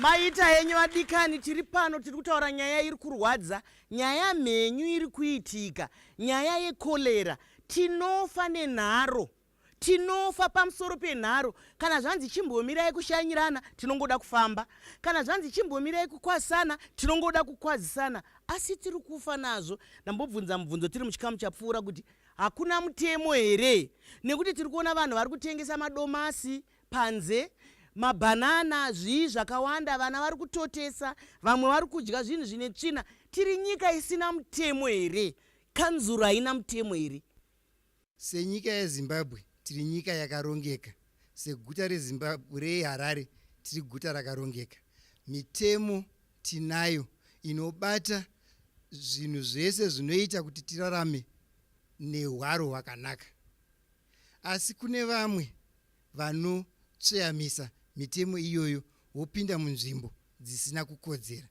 maita henyu vadikani tiri pano tiri kutaura nyaya iri kurwadza nyaya mhenyu iri kuitika nyaya yekorera tinofa nenharo tinofa pamusoro penharo kana zvanzi chimbomirai kushanyirana tinongoda kufamba kana zvanzi chimbomirai kukwazisana tinongoda kukwazisana asi tiri kufa nazvo ndambobvunza mubvunzo tiri muchikamu chapfuura kuti hakuna mutemo here nekuti tiri kuona vanhu vari kutengesa madomasi panze mabhanana zvii zvakawanda vana vari kutotesa vamwe vari kudya zvinhu zvine tsvina tiri nyika isina mutemo here kanzuro haina mutemo here Senyika yeZimbabwe tiri nyika yakarongeka, seguta reZimbabwe reHarare tiri guta rakarongeka. Mitemo tinayo inobata zvinhu zvese zvinoita kuti tirarame nehwaro hwakanaka. Asi kune vamwe vanotsveyamisa mitemo iyoyo vopinda munzvimbo dzisina kukodzera.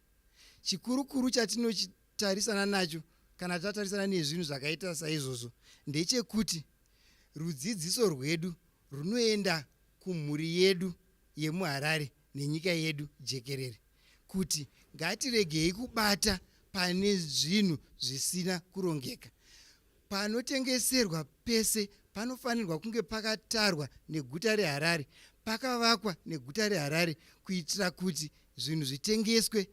Chikurukuru chatinochi tarisana nacho kana tatarisana nezvinhu zvakaita saizvozvo ndechekuti rudzidziso rwedu runoenda kumhuri yedu yemuharare nenyika yedu jekerere kuti ngatiregei kubata pane zvinhu zvisina kurongeka panotengeserwa pese panofanirwa kunge pakatarwa neguta reharare pakavakwa neguta reharare kuitira kuti zvinhu zvitengeswe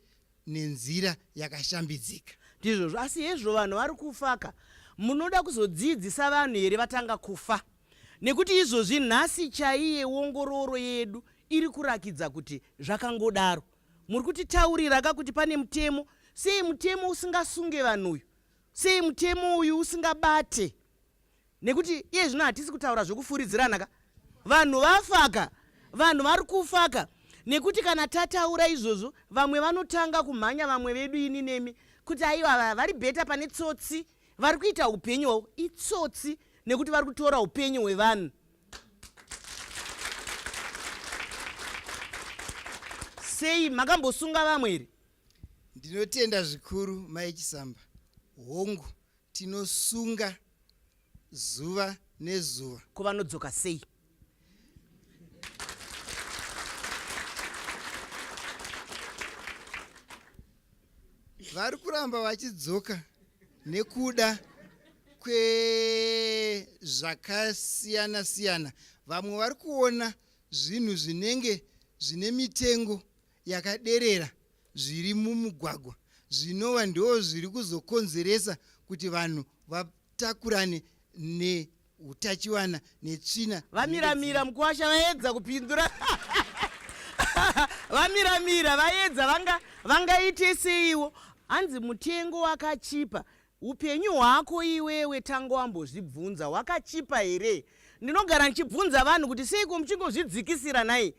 nenzira yakashambidzika. Ndizvozvo, asi hezvo vanhu vari kufaka. Munoda kuzodziidzisa vanhu here vatanga kufa? Nekuti izvozvi nhasi chaiye wongororo yedu iri kurakidza kuti zvakangodaro. Muri kutitaurira ka kuti pane mutemo. Sei mutemo usingasunge vanhu uyu? Sei mutemo uyu usingabate nekuti iye zvino hatisi kutaura zvokufuridzirana ka vanhu vafaka vanhu vari kufaka nekuti kana tataura izvozvo vamwe vanotanga kumhanya vamwe vedu ini nemi kuti aiwa vari bheta pane tsotsi vari kuita upenyu hwavo itsotsi nekuti vari kutora upenyu hwevanhu sei makambosunga vamwe here ndinotenda zvikuru mai chisamba hongu Tinosunga zuva nezuva. Ko vanodzoka sei? Vari kuramba vachidzoka nekuda kwezvakasiyana siyana. Vamwe vari kuona zvinhu zvinenge zvine mitengo yakaderera zviri mumugwagwa zvinova ndoo zviri kuzokonzeresa kuti vanhu vatakurane neutachiwana netsvina vamiramira mukuwasha vaedza kupindura vamiramira vaedza vanga vangaite seiwo hanzi mutengo wakachipa upenyu hwako iwewe tanga wambozvibvunza hwakachipa here ndinogara ndichibvunza vanhu kuti seiko muchingozvidzikisira nhai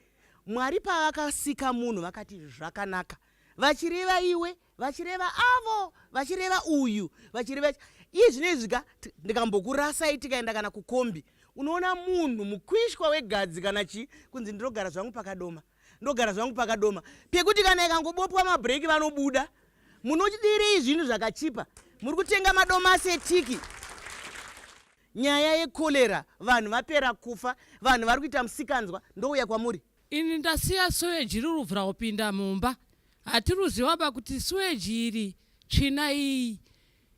Mwari pavakasika munhu vakati zvakanaka vachireva iwe vachireva avo vachireva uyu vachireva iye zvino izvi ka ndikambokurasai tikaenda kana kukombi unoona munhu mukwishwa wegadzi kana chii kunzi ndinogara zvangu pakadoma ndogara zvangu pakadoma pekuti kana ikangobopwa mabreaki vanobuda munodirei zvinhu zvakachipa muri kutenga madomasi etiki Nyaya yekolera vanhu vapera kufa vanhu vari kuita musikanzwa ndouya kwamuri. Ini ndasiya suweji riruvhura kupinda mumba hatiruziwaba kuti suweji iri tsvina iyi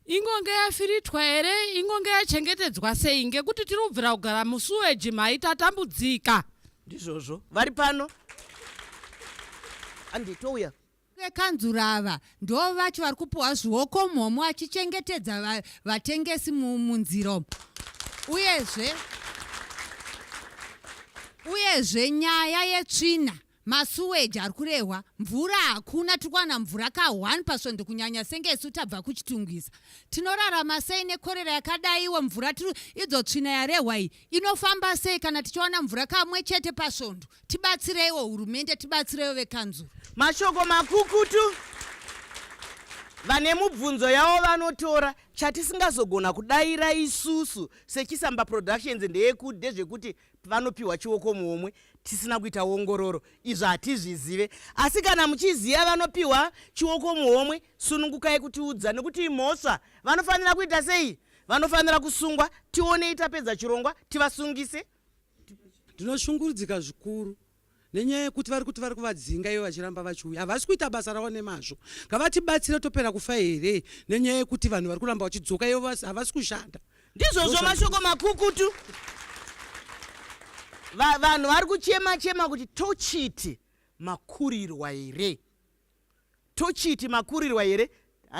ingonge yafiritwa here ingonge yachengetedzwa sei ngekuti tiri kubvira kugara musuweji mhai tatambudzika ndizvozvo vari pano anditouya vekanzura ava ndo vacho vari kupiwa zvioko mhomo achichengetedza vatengesi munzira umu uyezve uyezve nyaya yetsvina masuweji ari kurehwa mvura hakuna tiri kuwana mvura ka one pasvondo kunyanya senge isu tabva kuchitungwiza tinorarama sei nekorera yakadaiwo mvura tiri idzo tsvina yarehwa iyi inofamba sei kana tichiwana mvura kamwe chete pasvondo tibatsireiwo hurumende tibatsireiwo vekanzuru mashoko makukutu vane mubvunzo yavo vanotora chatisingazogona kudaira isusu sechisamba productions ndeyekude zvekuti vanopiwa chioko muomwe tisina kuita ongororo izvo hatizvizive asi kana muchiziva vanopiwa chioko muomwe sunungukai kutiudza nekuti imhosva vanofanira kuita sei vanofanira kusungwa tionei tapedza chirongwa tivasungise Ndinoshungurudzika zvikuru nenyaya yekuti vari kuti vari kuvadzinga ivo vachiramba vachiuya havasi kuita basa ravo nemazvo ngavatibatsire topera kufa here nenyaya yekuti vanhu vari kuramba vachidzoka ivo havasi kushanda ndizvozvo mashoko makukutu vanhu vari kuchema chema kuti tochiti makurirwa here tochiti makurirwa here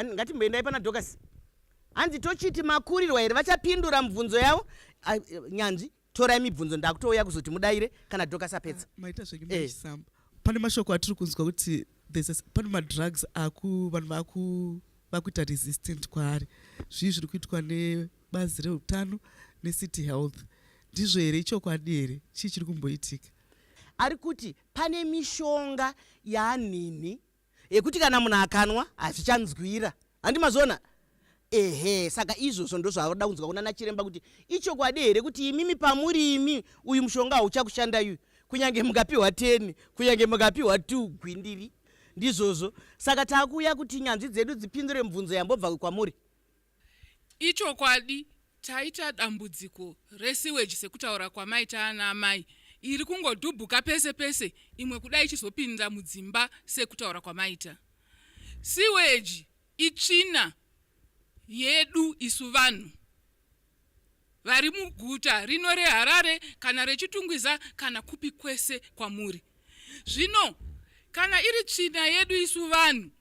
ngatimboendai pana docas hanzi tochiti makurirwa here vachapindura mibvunzo yavo ah, nyanzvi torai mibvunzo ndakutouya kuzoti mudaire kana docas apedza ah, maita zvenyu maisamba eh. pane mashoko atiri kunzwa kuti pane madrugs aku vanhu vaku vakuita resistant kwaari zvii zviri kuitwa nebazi reutano necity health ndizvo here ichokwadi here chii chiri kumboitika ari kuti Pane mishonga yaanhinhi yekuti kana munhu akanwa hazvichanzwira handi mazviona ehe saka izvozvo ndozvaoda kunzwa kunana chiremba kuti ichokwadi here kuti imimi pamuri imi uyu mushonga hauchakushanda uyu kunyange mukapiwa 10 kunyange mukapiwa 2 gwindiri ndizvozvo saka takuuya kuti nyanzvi dzedu dzipindure mubvunzo yambobva kwamuri Ichokwadi taita dambudziko resewage sekutaura kwamaita ana amai iri kungodhubhuka pese pese imwe kuda ichizopinda mudzimba sekutaura kwamaita. Sewage itsvina yedu isu vanhu. vari muguta rino reharare kana rechitungwiza kana kupi kwese kwamuri zvino kana iri tsvina yedu isu vanhu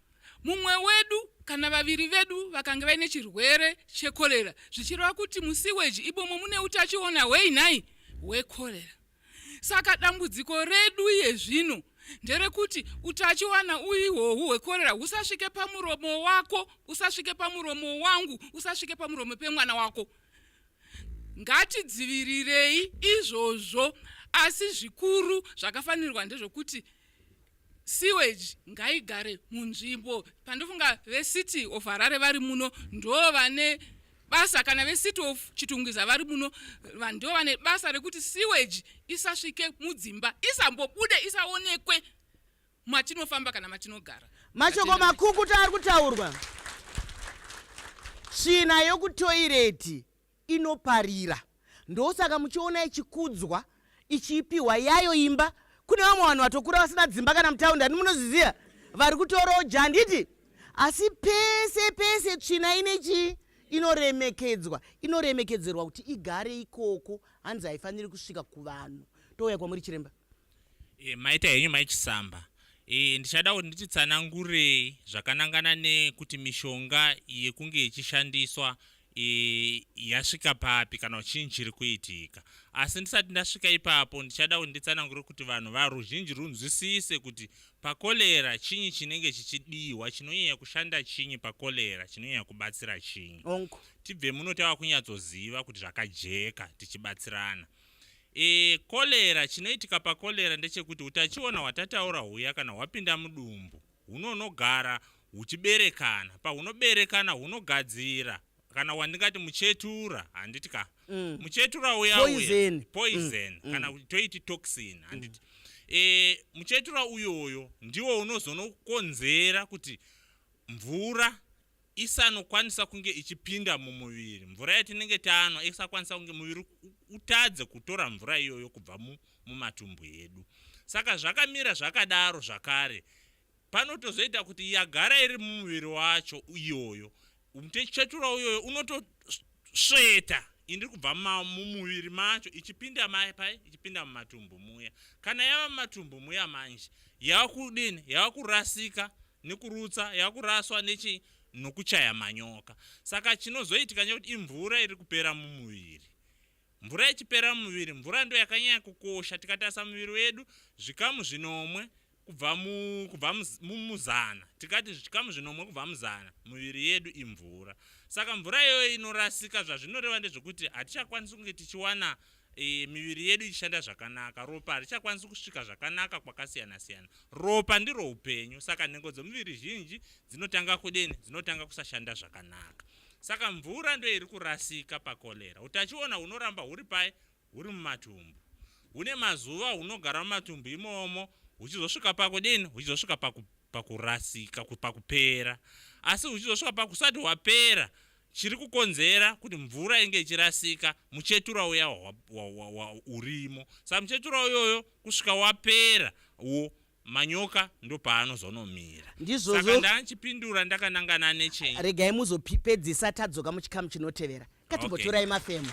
mumwe wedu kana vaviri vedu vakanga vaine chirwere chekorera zvichireva kuti musiweji ibomo mune utachiona hwei nhai hwekorera Saka dambudziko redu iye zvino nderekuti utachiwana uihohu hwekorera husasvike pamuromo wako usasvike pamuromo wangu usasvike pamuromo pemwana wako ngatidzivirirei izvozvo asi zvikuru zvakafanirwa ndezvokuti sewage ngaigare munzvimbo pandofunga vecity of harare vari muno ndo vane basa kana vecity of chitungwiza vari muno ndo vane basa rekuti sewage isasvike mudzimba isambobude isaonekwe matinofamba kana matinogara mashoko makukuta ari kutaurwa tsvina yokutoireti inoparira ndosaka muchiona ichikudzwa ichiipiwa yayo imba kune vamwe vanhu vatokura vasina dzimba kana mutaundi ani munozviziva vari kutorawo ja handiti asi pese pese tsvina ine chii inoremekedzwa inoremekedzerwa kuti igare ikoko hanzi haifaniri kusvika kuvanhu touya kwamuri chiremba e, maita henyu mai chisamba e, ndichada kuti ndititsanangurei zvakanangana nekuti mishonga yekunge yechishandiswa e, yasvika papi kana uchinyi chiri kuitika asi ndisati ndasvika ipapo ndichada kuti nditsanangure kuti vanhu varuzhinji runzwisise kuti pakolera chinyi chinenge chichidiwa chinonyanya kushanda chinyi pakolera chinonyanya kubatsira chinyi tibve muno tava kunyatsoziva kuti zvakajeka tichibatsirana E, kolera chinoitika pakolera ndechekuti utachiona hwatataura huya kana hwapinda mudumbu hunonogara huchiberekana pahunoberekana hunogadzira kana wandingati muchetura handiti ka mm. muchetura uya poison, uya, poison. Mm. kana mm. toiti toxin mm. handiti mm. e, muchetura uyoyo ndiwo unozonokonzera kuti mvura isanokwanisa kunge ichipinda mumuviri mvura yatinenge tanwa isakwanisa kunge muviri utadze kutora mvura iyoyo kubva mumatumbu edu saka zvakamira zvakadaro zvakare panotozoita kuti yagara iri mumuviri wacho iyoyo mutechetura uyoyo unotosveta indiri kubva mumuviri macho ichipinda mai pai ichipinda mumatumbu muya kana yava mumatumbu muya manje yava kudini yava kurasika nekurutsa yakuraswa nechi nokuchaya manyoka saka chinozoitika nekuti imvura iri kupera mumuviri mvura ichipera mumuviri mvura ndo yakanyanya kukosha tikatarisa muviri wedu zvikamu zvinomwe kubva mumuzana tikati zvikamu zvinomwe kubva muzana muviri yedu imvura saka mvura iyoyo inorasika zvazvinoreva ndezvekuti hatichakwanisi kunge tichiwana e, miviri yedu ichishanda zvakanaka ropa harichakwanisi kusvika zvakanaka kwakasiyana-siyana ropa ndiro upenyu saka nhengo dzomuviri zhinji dzinotanga kudeni dzinotanga kusashanda zvakanaka saka mvura ndo iri kurasika pakolera utachiona hunoramba huri pai huri mumatumbu hune mazuva hunogara mumatumbu imomo huchizosvika pakudini huchizosvika pakurasika pakupera asi huchizosvika pakusati hwapera Chiri kukonzera kuti mvura inge ichirasika muchetura uya urimo saka muchetura uyoyo kusvika wapera wo manyoka ndopaanozonomira ndizvozvo ndachipindura ndakanangana nechei regai muzopedzisa tadzoka muchikamu chinotevera katimbotorai okay. mafemo